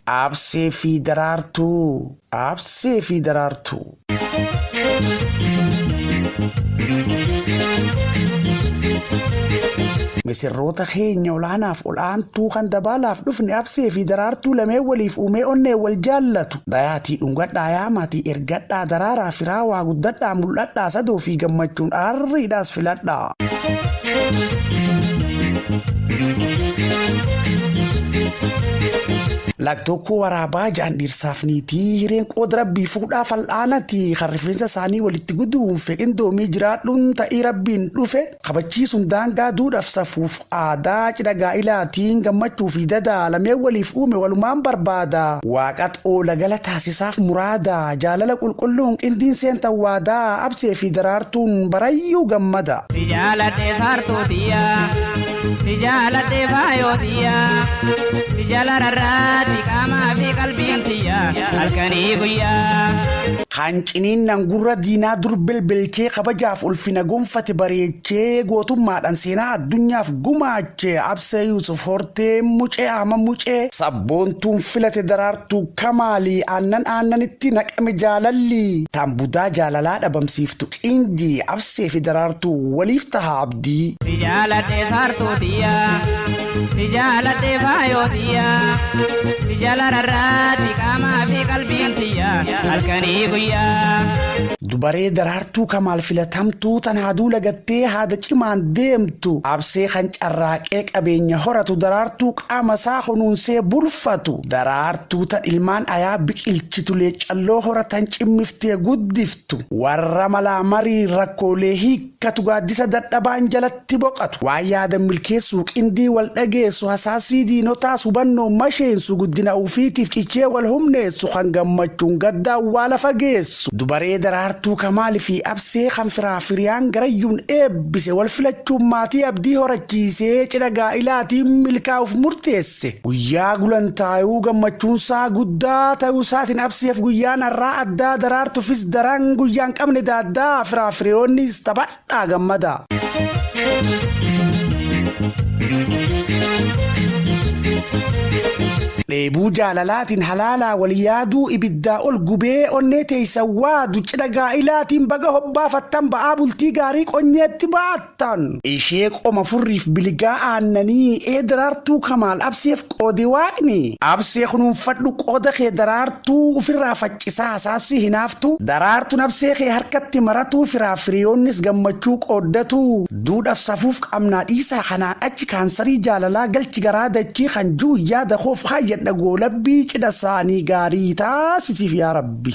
Aabsee fi daraartuu. Aabsee fi daraartuu. Misirroota keenya olaanaaf ol'aantuu kan dabaalaaf dhufne absee fi daraartuu lameen waliif uumee onnee wal jaallatu. Dayaatii dhungadhaa yaa maatii ergadhaa daraaraa firaa waa guddadhaa mul'adhaa sadoo fi gammachuun aarriidhaas filadhaa. Laktookoo waraabaa ja'an dhiirsaaf niitii hireen qooda rabbii fuudhaa fal'aanati kan rifeensa isaanii walitti guduunfe qindoomii jiraadhuun ta'ii rabbiin dhufe kabachiisuun daangaa duudhaaf safuuf aadaa cidha gaa'ilaatiin gammachuu fi dadaa lameen waliif uume walumaan barbaada waaqat oola gala taasisaaf muraada jaalala qulqulluun qindiin seentan waadaa absee fi daraartuun barayyuu gammada. Si jaaladhe saartuu tiyya si jaaladhe faayoo tiyya si jala rarraati qaamaa fi qalbiin tiyya halkanii guyyaa. Kan ciniinnan gurra diinaa dur belbelchee kabajaaf ulfina gonfate bareechee gootummaadhan seenaa addunyaaf gumaache Absee Yuusuf Hortee Mucee Ahma Mucee sabboontuun filate Daraartuu Kamaali Aannan aannanitti naqame jaalalli Tan budaa jaalalaa dhabamsiiftu Qindi Absee fi Daraartuu waliif taha abdii. Si jaaladhe saartuu tiyya. Si jaaladhe faayoo tiyya si jalararraati qaamaa fi qalbiin tiyya halkanii guyyaa. Dubaree daraartuu kamaal filatamtuu tan haaduu lagattee haada cimaan deemtu absee kan carraaqee qabeenya horatu daraartuu qaama isaa kunuunsee bulfatu daraartuu tan ilmaan ayaa biqilchitu leeccalloo horatan cimmiftee guddiftu warra malaa marii rakkoolee hiikkatu gaaddisa dadhabaan jalatti tti boqatu. Waan yaadan milkeessuu, qindii wal dhageessu, hasaasii diinotaas hubannoon masheensu, guddina ufiitiif cichee wal humneessu, kan gammachuun gadda awwaala fageessu. Dubaree Daraartuu Kamaal fi Absee kan firaa firiyaan garayyuun eebbise wal filachuun maatii abdii horachiisee cidha gaa'ilaatiin milkaa'uuf murteesse. Guyyaa gulantaayuu gammachuunsaa guddaa tayuu isaatiin Abseef guyyaan arraa addaa Daraartufis daran guyyaan qabne daaddaa firaa firiyoonniis tapha, dhaa gammadaa. Dheebuu jaalalaatiin halaalaa wal yaaduu ibiddaa ol gubee onnee teeysa waadu cidha gaa'ilaatiin baga hobbaafattan ba'aa bultii gaarii qonyeetti baattan. Ishee qoma furriif biligaa aannanii ee daraartuu kamaal abseef Qoodi Waaqni, Absee kunuunfadhu qooda kee Daraartuu ufirraa faccisaa hasaassi hinaaftu Daraartuun Absee kee harkatti maratuu Firaaf hiriyoonnis gammachuu qooddatu Duudhaf safuuf qabnaa dhiisaa kanaan achi Kaansarii jaalalaa galchi garaa dachii Kan ji'un yaada koof kaayyadha goolabbii Cidha saanii gaarii taasisiif yaa Rabbi.